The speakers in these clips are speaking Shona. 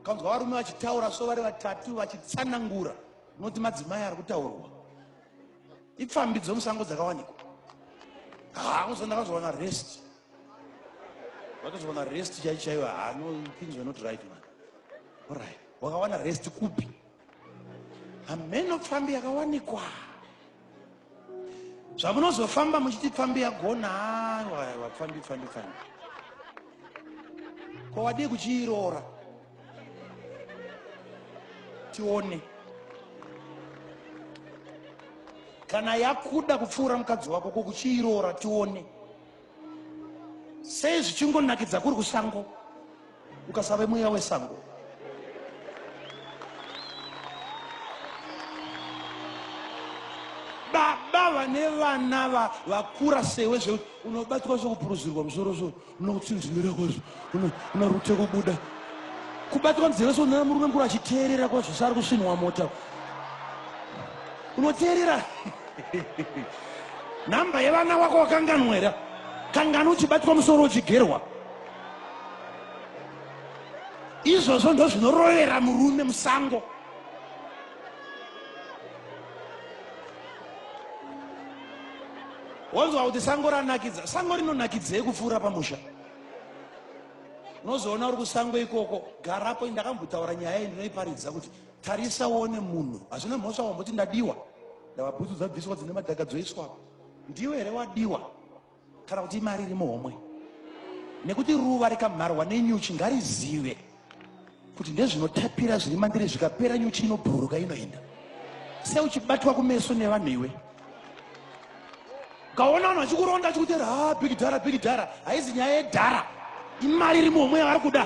Kanzwa varume vachitaura so vari vatatu vachitsanangura unoti madzimai ari kutaurwa ipfambi dzomusango dzakawanikwa haamusa ndakazowana rest vakazowana rest chaichaiva hanopinzwa not right man orit wakawana rest kupi hameno pfambi yakawanikwa zvamunozofamba muchiti pfambi yagona aiwa pfambi pfambi pfambi ko wadii kuchiiroora tione kana yakuda kupfuura mukadzi wako ko kuchiiroora tione sei zvichingonakidza kuri kusango ukasave mweya wesango baba vane vana vakura sewe zvekuti unobatwa zvekupuruzirwa musoro so unokutsinzimira kwazvo una rute kubuda kubatirwa nzeve sonera murume mukuru achiteerera kwa zvese ari kusvinwa mota unoteerera nhamba yevana wako wakanganwera kangani uchibatwa musoro uchigerwa izvozvo ndo zvinorovera murume musango wonzwa kuti sango ranakidza sango rinonakidzei kupfuura pamusha unozoona uri kusango ikoko garapo ndakambotaura nyaya iyi ndinoiparidza kuti tarisa uone munhu hazvina mhosva wamboti ndadiwa ndava bhutsu dzabviswa dzine madhaga dzoiswa ndiwe here wadiwa kana kuti imari iri muhomwe nekuti ruva rikamharwa nenyuchi ngarizive kuti ndezvinotapira zviri mandiri zvikapera nyuchi inobhururuka inoenda sei uchibatwa kumeso nevanhu iwe ukaona vanhu vachikuronda achikutera ha ah, big dhara big dhara haizi nyaya yedhara imari iri muhomwe yavari kuda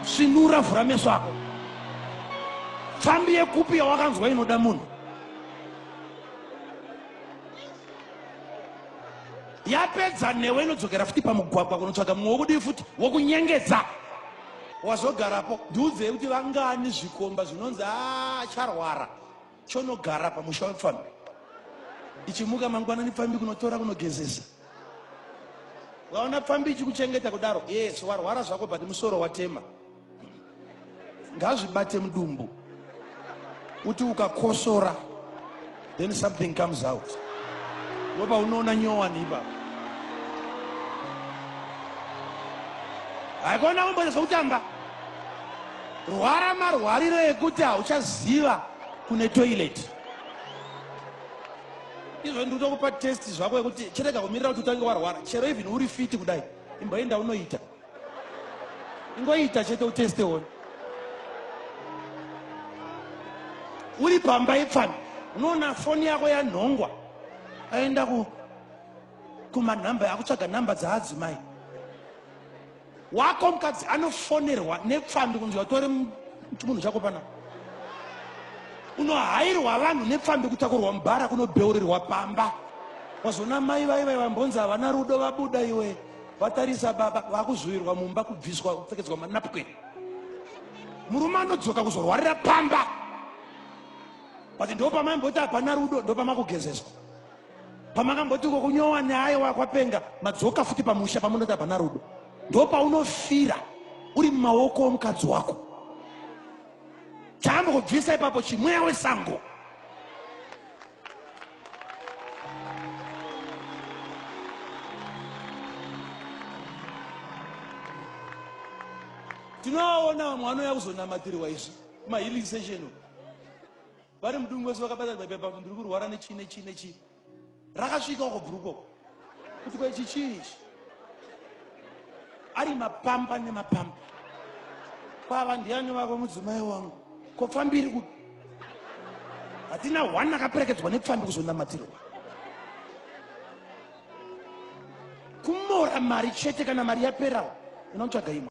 svinura vhura meso ako pfambi yekupi yawakanzwa inoda munhu yapedza newe inodzokera futi pamugwagwa kunotsvaga mumwe wokudii futi wokunyengedza wazogarapo ndiudzei kuti vangani zvikomba zvinonzi acharwara ah, chonogara pamusha wepfambi ichimuka mangwanani pfambi kunotora kunogezesa vaona pfambi ichikuchengeta kudaro yes warwara zvako but musoro watema ngazvibate mudumbu kuti ukakosora then something comes out ndopa unoona nyowani ipa haikona kumboita zvekutamba rwara marwariro ekuti hauchaziva kune toileti izvo ndiri kutokupa test zvako yekuti chirega kumirira kuti utange warwara chero even uri fiti kudai imboenda unoita ingoita chete uteste one uri pamba ipfana unoona foni yako yanhongwa aenda ku kumanhamba akutsvaga nhamba dzaadzimai wako mukadzi anofonerwa nepfambi kunzi watore chimunhu chako pana unohairwa vanhu nepfambi kutakurwa mubhara kunobheurirwa pamba wazoona mai vaiva vambonzi havana rudo vabuda iwe vatarisa baba vakuzowirwa mumba kubviswa kupfekedzwa manapkin murume anodzoka kuzorwarira pamba but ndo pamaimboti hapana rudo ndo pamakugezeswa pamakamboti uko kunyowa neaye wakwapenga madzoka futi pamusha pamunoti hapana rudo ndo paunofira uri mumaoko omukadzi wako chaambokubvisa ipapo chimweya wesango tinovaona vamwe vanouya kuzonamatirwa izvi mahealing session vari mudungu wese vakabatana baibai ndiri kurwara nechii nechii nechii rakasvika uko bhurukoko kuti ko ichi chii ichi ari mapamba nemapamba kwava ndiani vako mudzimai wangu ko pfambi iri kupi hatina one akaperekedzwa nepfambi kuzonamatirwa kumora mari chete kana mari yaperawo unotsvaga imwe